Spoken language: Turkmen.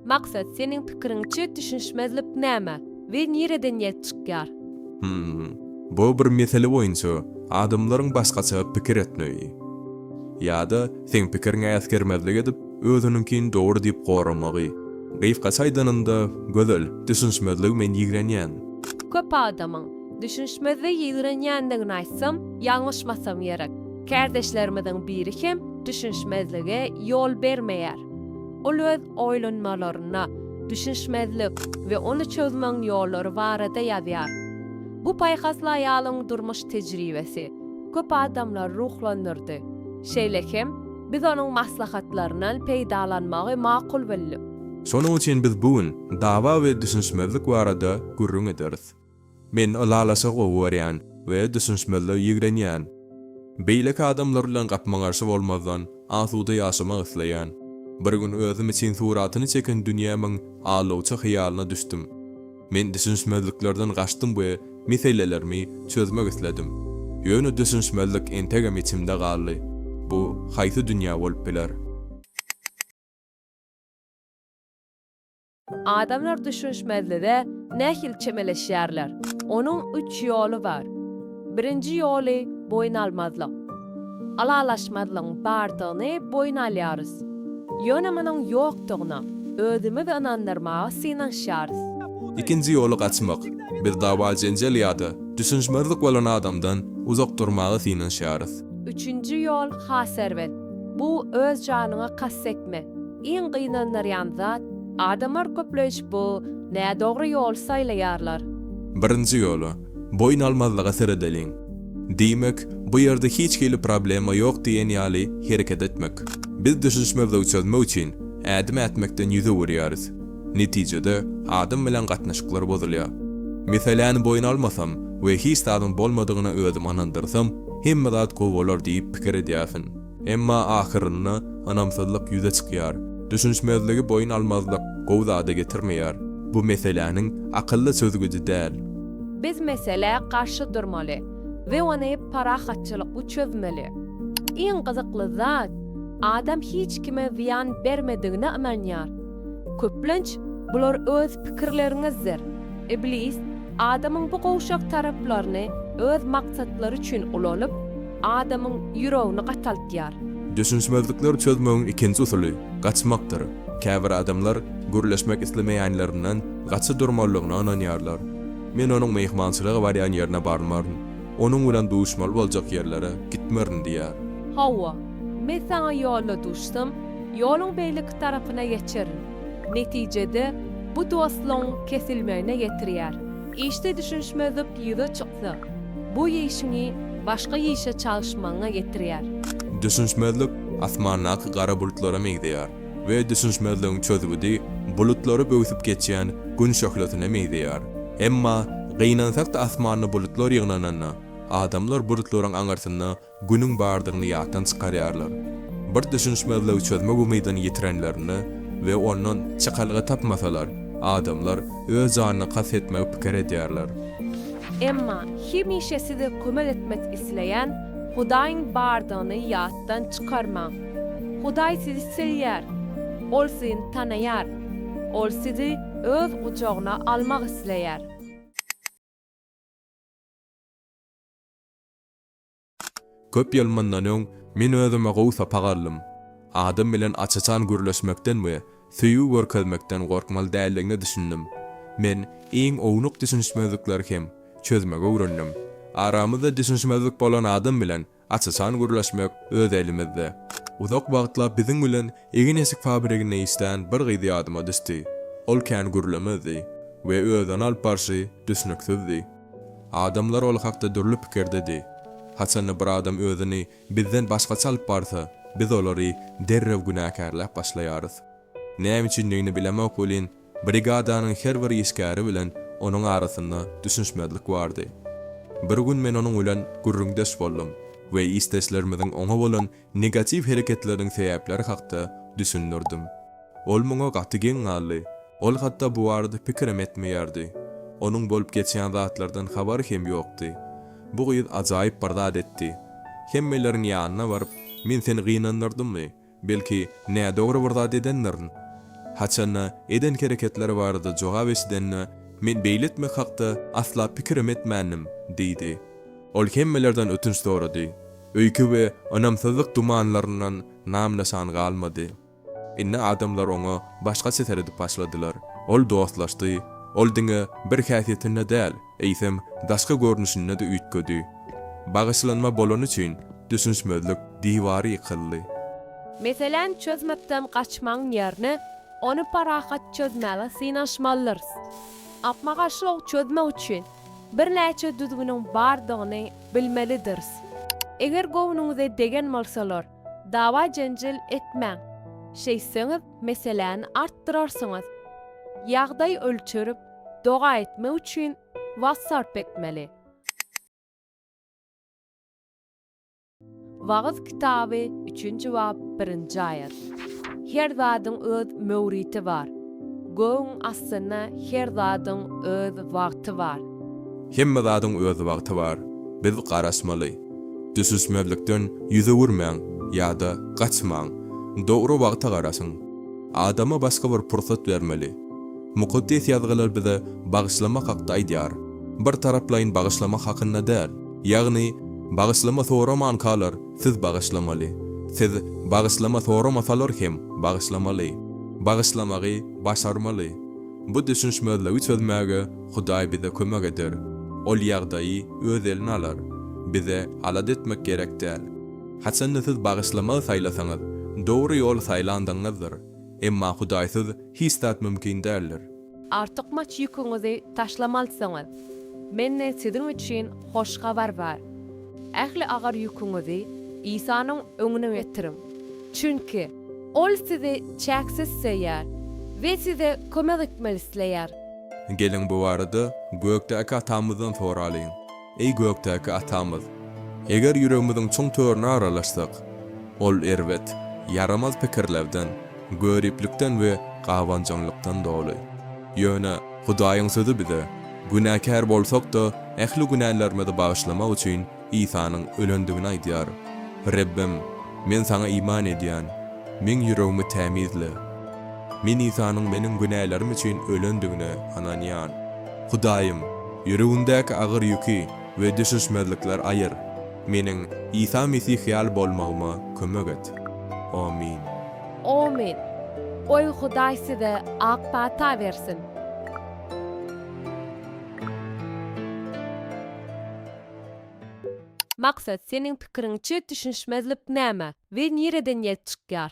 Maksat, seniň pikiriňçe düşünişmezlik näme we nireden ýelp çykýar? Hum. Bu bir mesele boýunça adamlaryň başgaça pikir etmegi. Ýa-da seň pikiriňe äsgermezlik edip, özüniňkini dogry diýip goramagy. Gysgaça aýdanyňda, Gözel, düşünişmezligi men ýigrenýän. Köp adamyň, düşünişmezligi ýigrenýändigini aýtsam, ýalňyşmasam gerek. Kärdeşlerimiziň biri hem düşünişmezlige ýol bermeýär. Ol öz oýlanmalarynda düşünişmezlik we ony çözmegiň ýollary barada ýazýar. Bu paýhasly aýalyň durmuş tejribesi köp adamlary ruhlandyrdy. Şeýle hem, biz onuň maslahatlaryndan peýdalanmagy makul bildik. Şonuň üçin biz bu gün dawa we düşünişmezlik barada gürrüň ederis. Men ylalaşygy gowy görýän we düşünişmezligi ýigrenýän. Beýleki adamlar bilen gapma-garşy bolmazdan, asuda ýaşamak isleýän. Bir gün özüm üçin suratyny çeken dünýämiň alawçy hyýalyna düşdüm. Men düşünişmezliklerden gaçdym we meselelerimi çözmek isledim. Ýöne düşünişmezlik entegem içimde galdy. Bu haýsy dünýä bolup biler? Adamlar düşünişmezlige nähili çemeleşýärler? Onuň üç ýoly bar. Birinji ýoly boýun almazlyk. Ylalaşmazlygyň bardygyny boýun alýarys. Ýöne munuň ýokdugyna özümizi ynandyrmaga synanyşýarys. Ikinji ýoly gaçmak. Biz dawa-jenjel ýa-da düşünişmezlik bolan adamdan uzak durmaga synanyşýarys. Üçünji ýol has erbet. Bu öz janyňa kast etme. Iň gynandyrýan zat, adamlar köpleýşip bu nädogry ýoly saýlaýarlar. Birinji ýola, boýun almazlyga seredeliň. Diýmek, bu ýerde hiç hili problema ýok diýen ýaly hereket etmek. Biz düşünişmezligi çözmek üçin ädim ätmekden ýüz öwürýäris. Netijede, adam bilen gatnaşyklar bozulýar. Meseläni boýun almasam we hiç zadyň bolmadygyna özüm ynandyrsam, hemme zat gowy bolar diýip pikir edýärsiň. Emma ahyrynda ynamsyzlyk ýüze çykýar. Düşünişmezligi boýun almazlyk gowy zada getirmeýär. Bu meseläniň akylly çözgüdi däl. Biz meselä garşy durmaly we ony parahatçylykly çözmeli. Iň gyzykly zat, adam hiç kime zyýan bermedigine ynanýar. Köplenç, bular öz pikirleriňizdir. Iblis, adamyň bu gowşak taraplaryny öz maksatlary üçin ulanyp, Adamyň ýüregini gataltýar. Düşünişmezlikleri çözmegiň ikinji usuly, gaçmakdyr. Käbir adamlar gürleşmek islemeýänlerinden gaça durmalygyna ynanýarlar. Men onuň myhmançylyga barýan ýerine barmaryn, onuň bilen duşmaly boljak ýerlere gitmerin diýýär. Hawa, men saňa ýolda duşsam, ýoluň beýleki tarapyna geçerin. Netijede, bu dostlugyň kesilmegine getirýär. Işde düşünişmezlik ýüze çyksa, bu işiňi başga işe çalyşmagyňa getirýär. Düşünişmezlik asmandaky gara bulutlara meňzeýär we düşünişmezligiň çözgüdi bulutlary böwsüp geçýän Gün şöhlesine meňzeýär. Emma, gynansak-da asmanda bulutlar ýygnananda, adamlar bulutlaryň aňyrsynda Günüň bardygyny ýatdan çykarýarlar. Bir düşünişmezligi çözmek umydyny ýitirenlerinde we ondan çykalga tapmasalar, adamlar öz janyna kast etmegi pikir edýärler. Emma hemişe size kömek etmek isleýän Hudaýyň bardygyny ýatdan çykarmaň. Hudaý sizi söýýär. Ol sizni tanaýar. Ol sizi Öz gujagyna almak isleýär. Köp ýyl mundan öň men özüme gowy sapak aldym. Adam bilen aç-açan gürleşmekden we söýgi görkezmekden gorkmaly däldigine düşündim. Men iň ownuk düşünişmezlikleri hem çözmegi öwrendim. Aramyzda düşünişmezlik bolan adam bilen aç-açan gürleşmek öz elimizde. Uzak wagtlap biziň bilen egin-eşik fabriginde işlän bir gyz ýadyma düşdi. Ol kän gürlemezdi we özüni alyp barşy düşnüksizdi. Adamlar ol hakda dürli pikirdedi. Haçanda bir adam özüni bizden başgaça alyp barsa, biz olary derrew günäkärläp başlaýarys. Näme üçindigini bilemok welin, brigadanyň her bir işgäri bilen onuň arasynda düşünişmezlik bardy. Bir gün men onuň bilen gürrüňdeş boldum we işdeşlerimiziň oňa bolan Negatiw hereketleriň sebäpleri hakda düşündirdim. Ol muňa gaty geň galdy. Ol hatda bu barada pikirem etmeýärdi. Onuň bolup geçýän zatlardan habary hem ýokdy. Bu gyz ajaýyp bir zat etdi. Hemmeleriň ýanyna baryp, Men seni gynandyrdymmy? Belki, nädogry bir zat edendirin? Haçan-da, eden hereketleri barada jogap eşidende, Men beýle etmek hakda asla pikirem etmändim, diýdi. Ol hemmelerden ötünç sorady. Öýke we ynamsyzlyk dumanlaryndan nam-nyşan galmady. Indi adamlar oňa başgaça seredip başladylar. Ol dostlaşdy. Ol diňe bir häsiýetinde däl, eýsem, daşky görnüşinde-de üýtgedi. Bagyşlanma bolany üçin düşünişmezlik diwary ýykyldy. Meseläni çözmekden gaçmagyň ýerine, ony parahat çözmäge synanyşmalydyrys. Gapma-garşylygy çözmek üçin Birnäçe düzgüniň bardygyny bilmelidiris. Eger göwnüňize degen bolsalar, dawa-jenjel etmäň. Şeýtseňiz, meseläni artdyrarsyňyz. Ýagdaý ölçerip, doga etmek üçin wagt sarp etmeli. Wagyz kitaby, üçünji bap, birinji aýat. Her zadyň öz möwriti bar. Gögüň astynda her zadyň öz wagty bar. Hemme zadyň öz wagty bar. Biz garaşmaly. Düşüşmezlikden ýüz öwürmäň ýa-da gaçmaň. Dogry wagta garaşyň. Adama başga bir pursat bermeli. Mukaddes Ýazgylar bize bagyşlamak hakda aýdýar. Bir taraplaýyn bagyşlamak hakynda däl. Ýagny, bagyşlama soramankalar, siz bagyşlamaly. Siz bagyşlama soramasalar hem bagyşlamaly. Bagyşlamagy başarmaly. Bu düşünişmezligi çözmäge Hudaý bize kömek eder. Ol ýagdaýy Öz eline alar. Bize alada etmek gerek däl. Haçanda siz bagyşlamagy saýlasaňyz, dogry ýoly saýlandygyňyzdyr. Emma Hudaýsyz hiç zat mümkin däldir. Artykmaç ýüküňizi taşlamalsyňyz. Mende siziň üçin hoş habar bar. Ähli agyr ýüküňizi Isanyň öňüne getiriň. Çünki Ol sizi çäksiz söýýär we size kömek etmek isleýär. Geliň bu barada Gökdäki Atamyzdan soralyň. Eý gökdäki Atamyz! Eger ýüregimiziň çuň törüne aralaşsak, ol erbet, ýaramaz pikirlerden, göriplikden we gabanjaňlykdan doly. Ýöne Hudaýyň Sözi bize, günäkär bolsak-da, ähli günälerimizi bagyşlamak üçin Isanyň ölendigini aýdýar. Rebbim, men Saňa iman edýän, meň ýüregimi tämizle. Men Isanyň meniň günälerim üçin ölendigine ynanýan. Hudaýym, ýüregimdäki agyr ýüki we düşüşmezlikler aýyr. Meniň Isa Mesih ýaly bolmagyma kömek et. Amin. Amin. Goý Hudaý size ak pata bersin. Maksat, seniň pikiriňçe düşünişmezlik näme we nireden ýelp çykýar?